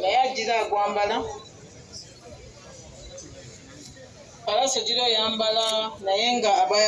naye agira agwambala palasi ogira oyambala naye nga aba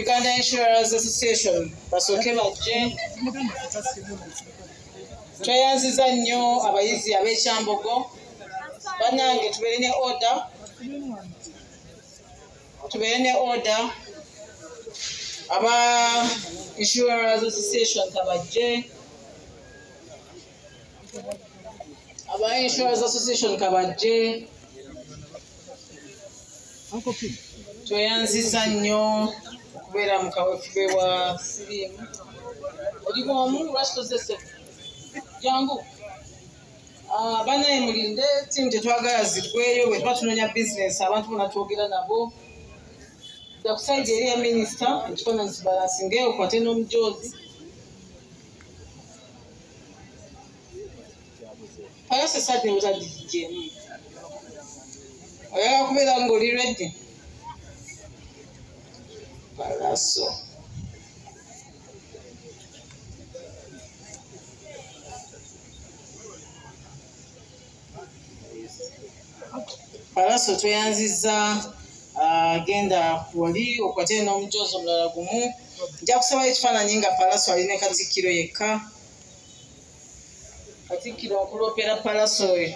uganda insurance association basooke bajje tweyanziza nnyo abayizi ab'ekyambogo banange tubeere ne order tubeere ne order aba insurance association kabajje aba insurance association kabajje tweyanziza nnyo okubeera mu kawefube wa siriimu oli bwomu lwaki tozese jangu Ah, banaye mulinde tiimu tetwagala zigweyo bwetuba tunonya bizinesi abantu bona twogera nabo dakusaidi eri ya minisita ekifaananyi kibalasingeyo okwate n'omujoozi ayose sadi nebutadijemu oyagala kubeera ngaoli redi balaso Alaso tweyanzizza ah, genda wali okwate n'omujoozi omulala gumu nja kusaba ekifaananyi nga palaso ali ne katikkiro yekka katikkiro nkuloopera palaso oyo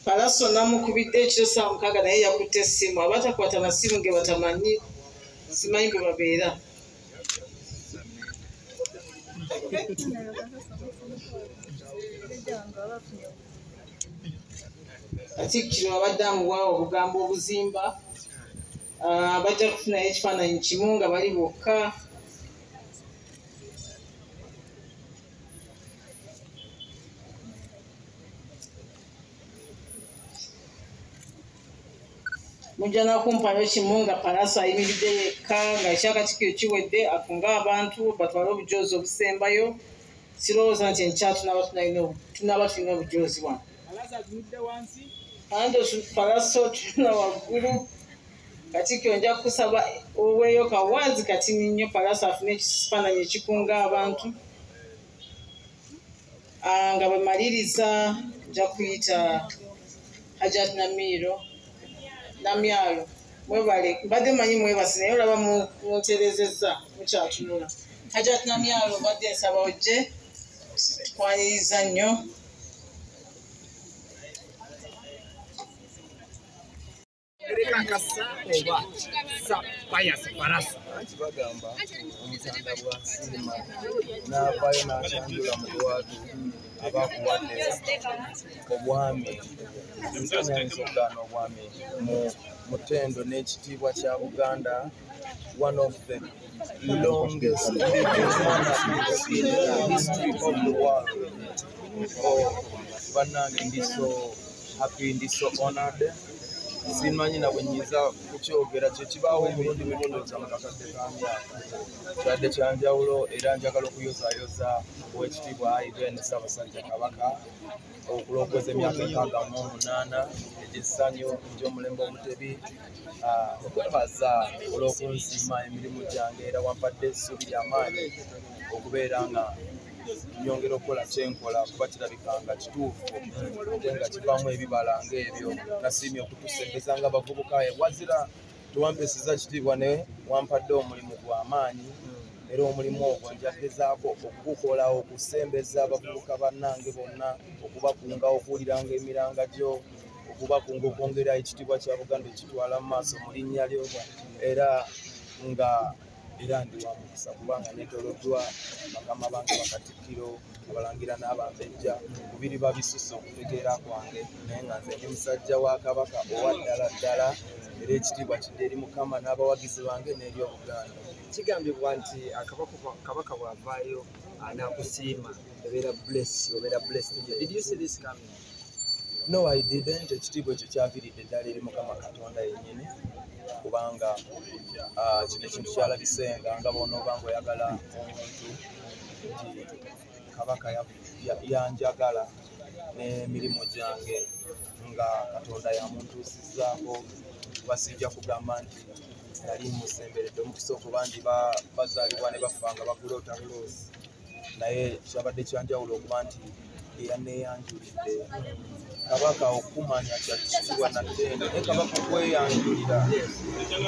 palaso namukubidde ekiro saa mukaaga naye yakutte essimu abatakwata masimu ge batamanyi simanyi gwe babeera katikkiro abadde amuwaawo obugambo obuzimba ah, bajja kufunayo ekifaananyi kimu nga bali bokka mujja nakumpayo kimu nga palaso ayimiridde yekka nga ekyakatikiro kiwedde akunga abantu batwale obujoozi obusembayo sirowooza nti enkya tunaba tulina obujoozi wano ande palaso tulina waggulu katikiro nja kukusaba oweeyo kawazi katini nnyo palaso afune ekifaananyi ekikunga abantu Ah, nga bwe maliriza nja kuyita hajat namiiro namyalo mwebale mbadde manyi mwebasi naye olaba munterezezza mukyatunula hajat namyalo mbadde nsaba ojje tukwaniriza nnyo Ereka kasa oba sa paya sa parasa. Anti bagamba omutanda bwa sima na bayo na chandula mu watu abakuwate obwami. Nsana nsoka no bwami mu mutendo ne kitibwa kya Buganda one of the longest history of the world. Oh, banange ndi so happy ndi so honored simanyi na bwe nyinza kukyogera kyekibaawo emirundi mimundoza mu kakadde ka myaka kyadde kya njawulo era njagala okuyozayoza owekitiibwa aiben ssabasajja kabaka okulokweza emyaka enkaaga mu omunaana egyessanyu egy'omulembe omutebi ah, okwebaza olw'okunsiima emirimu gyange era wampadde essuubi ly'amaanyi okubeera nga nyongera okukola kyenkola kuba kirabika nga kituufu ate nga kivaamu ebibala ngaebyo nasiimye okutusembeza nga bavubuka wazira tewampeseza kitiibwa ne wampadde omulimu gwa maanyi era omulimu ogwo njagezaako okugukola okusembeza abavubuka bannange bonna okubakunga okuwuliranga emiranga gyo okubakunga okwongera ekitiibwa kya buganda ekitwala mu maaso mu linnya lyo era nga era ndi wa mukisa kubanga netoloddwa bakama bange bakatikkiro abalangira n'abambejja kubiri babisusse okutegeera kwange naye nga nze ndi musajja wa kabaka owa ddala ddala era ekitiibwa kidde eri mukama n'abawagizi bange n'eri obuganda kigambibwa nti kabaka bw'avaayo anakusiima ebeera bless obeera bless did you see this coming No, I didn't. Ekitiibwa ekyo kyaviridde ddala eri Mukama Katonda yennyini kubanga ah, kino ekintu kyalabisenga nga bw'onooba ng'oyagala omuntu nti Kabaka yanjagala n'emirimu gyange nga Katonda yamuntuusizzaako kuba sijja kugamba nti nali musemberedde omukisa okuba nti bazaalibwa ne bafa nga bagula otabuloosi naye kyabadde kyanjawulo okuba nti eyaneeyanjulidde kabaka okumanya kyakisibwa natendo naye kabaka okweyanjulira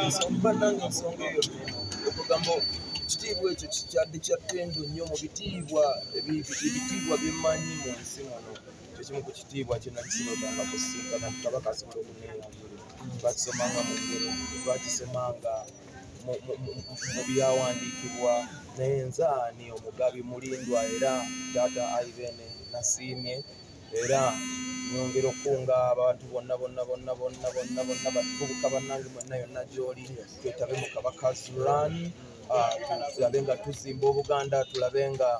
nsonga nange ensonga eyo neno okugamba ekitiibwa ekyo kikyadde kya ttendo nnyo mu bitiibwa ebitiibwa byemanyi mu nsi muno kyekimu ku kitiibwa kyenakisinotanga kusinkana kabaka asobola okuneeyanjulira bakisomanga mu ngero bakisomanga mu byawandiikibwa naye nzaani omugabi mulindwa era taata aibene nasiimye era nyongera okukunga abantu bonna bonna bonna bonna bonna bonna batubuka bannange mwenna yonna gyoli twetabe mu kabaka zuran ah, tulabe nga tuzimba obuganda tulabe nga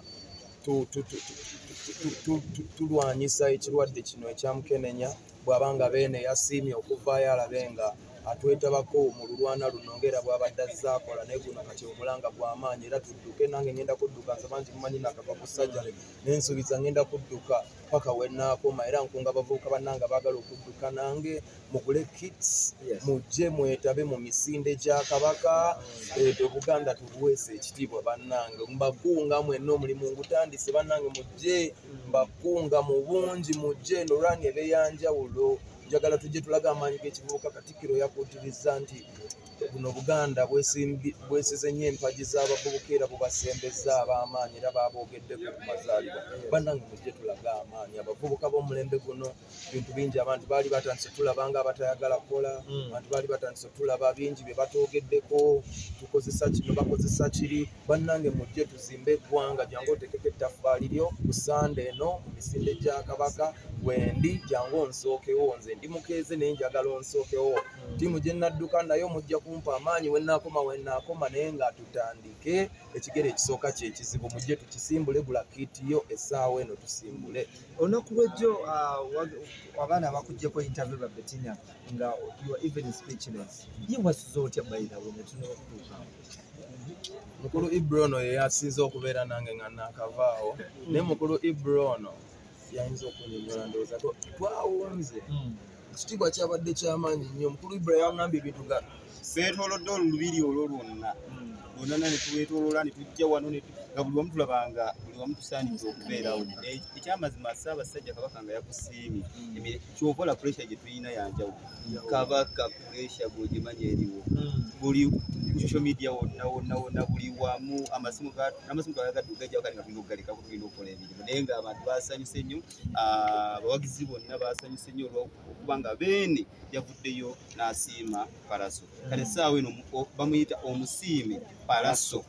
tulwanyisa ekirwadde kino ekyamukenenya bw'aba nga beene yasiimye okuvaayo alabe nga atwetabako mu lulwana luno ngaera bw'abadde azze akola naye guno kati omulanga gw'amaanyi era tudduke nange ngenda kudduka nze bangi mumanyi nakava ku sajale naye nsuubiza ngenda kudduka paka wenaakoma era nkunga abavubuka bannanga baagala okudduka nange mugule kits mujje mwetabe mu misinde gya kabaka edo buganda tubuweesa ekitiibwa bannange mbagunga mwenna omulimu ngutandise bannange mujje mbakunga mu bungi mu jeen olwange ebeyanjawulo njagala tujje tulaga amaanyi g'ekivubuka katikkiro yakuutirizza nti buno obuganda bwesize nnyo empagi z'abavubuka era bubasembezza ab'amaanyi era baaboogeddeko ku mazaalibwa bannange mujje tulaga amaanyi abavubuka b'omulembe guno ebintu bingi abantu baali batandise tulaba nga abatayagala kukola hmm. abantu baali batandise tulaba bingi bye batoogeddeko tukozesa kino bakozesa kiri bannange mujje tuzimbe eggwanga jangu otekeko ettaffaali lyo ku sande eno mu misinde gya kabaka wendi jangu onsookewo nze ndi mukeeze naye njagala onsookewo hmm. tiimu gye nnadduka nayo mujja kumpa amaanyi wennaakoma wennaakoma naye nga tutandike ekigere ekisooka kyekizibu mujje tukisimbule gula kiiti yo essaawa eno tusimbule olunaku lwejjo uh, abaana bakujjeko interview ba betina nga your even speechless ye wasuza otya bayidawe netunakutuuka mukulu ibra ono yeyasinze okubeera nange nga nakavaawo naye mukulu ibra ono yayinza okunyonyola ndowooza twawunze hmm. ekitiibwa kyabadde kyamaanyi nnyo omukulu ibrahim agamba ebintu nga twetolodde olulubiri olwo lwonna lwonana netwetolola netujja wano nga buli wamu tulabanga buli wamu tusaanidde okubeerawo ekyamazima ssaabasajja kabaka nga yakusiimye kyova ola puresha gye tulina yanjawo kabaka puresha gwogimanyi eriwo buli social media wonna wonna wonna buli wamu amasimu amasimu gagagadde ogajjawo kale nga tulina okugalekaku tulina okukola emirimu naye nga abantu basanyuse nnyo ah, abawagizi bonna baasanyuse nnyo olwokuba nga beene yavuddeyo n'asiima palaso kale essaawa eno bamuyita omusiime palaso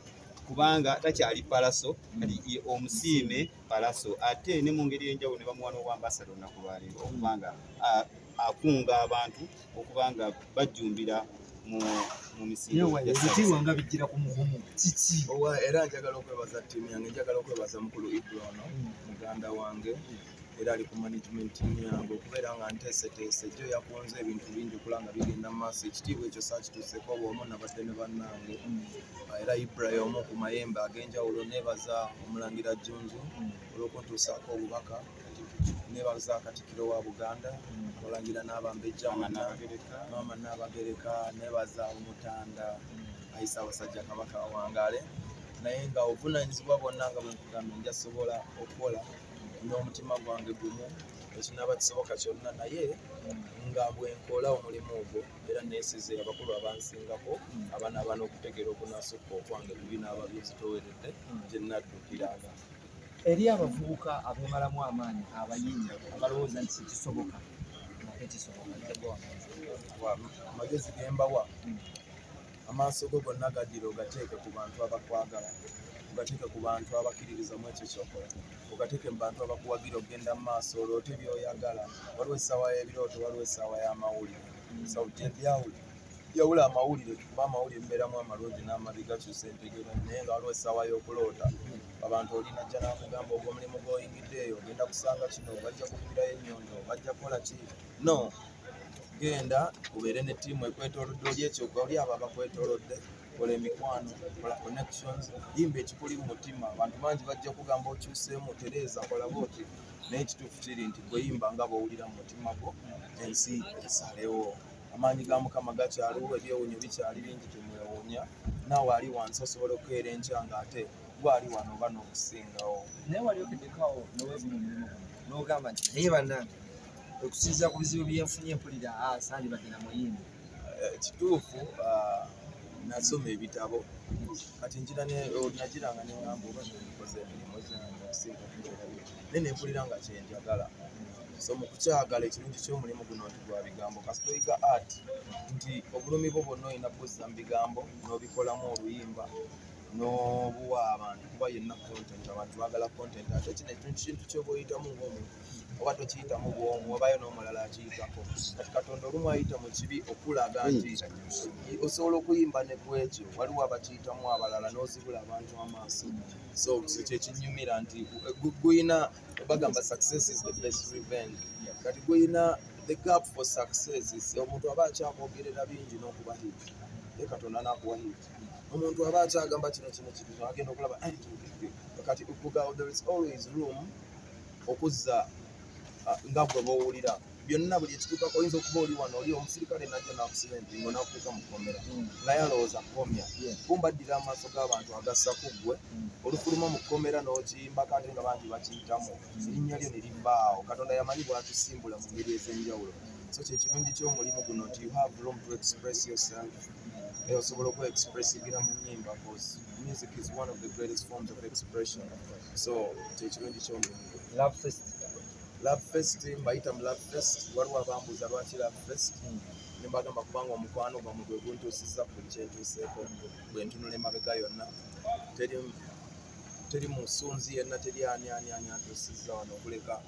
kubanga takyali palaso kati omusiime palaso ate ne mu ngeri enjawulo ne bamuwa n'obwambasada olunaku lwaleero okubanga ah, akunga abantu okuba nga bajjumbira mu ebitiibwa nga bijjira ku mugumu kiki owa era njagala okwebaza ttiimu yange njagala okwebaza mukulu ibra ono mm. muganda wange era ali ku management team yange okubeera nga nteeseteese jo yakunze ebintu bingi okula nga bigenda mu maaso ekitiibwa ekyo saakituuseko bwomu nabadde ne bannange mm. ah, era ibra yomu ku mayembe ag'enjawulo neebaza omulangira junju mm. olw'okuntuusaako obubaka nebaza katikiro wa buganda abalangira n'abambejja maama naabagereka nebaza omutanda ayisa abasajja kabaka awangaale naye nga obuvunanyizibwa bwonna nga bwenkugambe njasobola okukola n'omutima gwange gumu ekinaba kisoboka kyonna naye nga bwenkola omulimu ogwo era nesize abakulu abansingako abana abana okutegeera okunasukka okwange bibinaaba byezitoweredde gyenaddukiranga eri abavubuka abemalamu amaanyi abayinda abalowooza nti sikisoboka ate kisobokaamagezi gembawa amaaso go gonna gaddira ogateeke ku bantu abakwagala ogateeke ku bantu abakkiririzamu ekyo kyokola ogateeke mu bantu abakuwagira okugenda mu maaso oloote byoyagala waliwo essaawa y'ebirooto waliwo essaawa y'amawulire sauti ebyawuli yawula amawulire kuba amawulire mbeeramu amalungi n'amabi gakyusa entegeera naye nga waliwo essaawa y'okuloota abantu olina jja nakugamba ogwo omulimu gwoyingidde eyo ogenda kusanga kino bajja kukubirayo enyondo bajja kukola ki no genda ubeere ne tiimu ekwetolodde oli ekyo oli abo abakwetolodde kola emikwano kola connections yimba ekikuli mu mutima abantu bangi bajja kugamba okyuseemu tereeza kola booti naye ekituufu kiri nti gweyimba nga bwowulira mu mutima gwo ensi esalewo amaanyi ga mukama gakyaliwo ebyewunyo bikyali bingi temwewuunya naawe ali wansi osobola okukeera enkya nga ate gwali wano oba n'okusingawo naye wali okedekawo nowevuma omulimu guno n'ogamba nti naye bannange okusinzira ku bizibu byenfunye mpulira ah, sandibadde na muyimbi eh, kituufu ah, nasoma ebitabo kati njira najiranga nengamba oba nikoze emirimu gyangenaye nempulira nga kyenjagala so mukukyagala ekirungi kyomulimu guno nti gwa bigambo kasitoyiga art nti obulumi bwo bwonna olina buzza mu bigambo n'obikolamu oluyimba n'obuwa abantu kuba yenna content abantu bagala content ate kino ekintu kintu kyoba oyitamu ngaomuntu oba tokiyitamu bwomu obayo n'omulala akiyitako kati katonda olumu ayita mu kibi okulaga nti hmm. osobola okuyimba ne kwekyo waliwo abakiyitamu abalala n'ozibula abantu amaaso so kyekinyumira nti guyina bagamba success is the best revenge kati guyina the gap for success omuntu aba akyakwogerera bingi n'okuba hit ye katonda nakuwa hiti omuntu aba akyagamba kino kino kino agenda okulaba eh, kati okugawo there is always room okuzza ah, nga gwe bowulira byonna buli ekituukako oyinza okuba oli wano oli omusirikale najja nakusiba empingo nakuuka mukomera mm. naye alowooza kukomya kumba addira amaaso g'abantu agassa ku ggwe mm. olufuluma mu kkomera n'okiyimba kate nga bangi bakiyitamu mm. erinnya lyo ne libbaawo katonda yamanyi bwatusimbula mu ngeri ez'enjawulo so kyekirungi ky'omulimu guno nti you have room to express yourself naye osobola okuba expressigira mu nyimba bcause music is one of the greatest forms of expression so kyekirungi kyomuntu love fest love fest mbayita mu love fest waliwo abambuuza lwaki love fest mm. nembagamba kubanga omukwano gwamu gwe guntuusiza ku buli kyentuuseeko bwe ntunula emabega yonna teri musunzi yenna teri ani ani ani antuusiza wano okuleka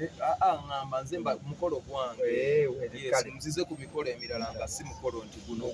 Eh, ah, ah, ngamba nze mukolo gwange eh, nzize ku mikolo emirala nga si mukolo nti guno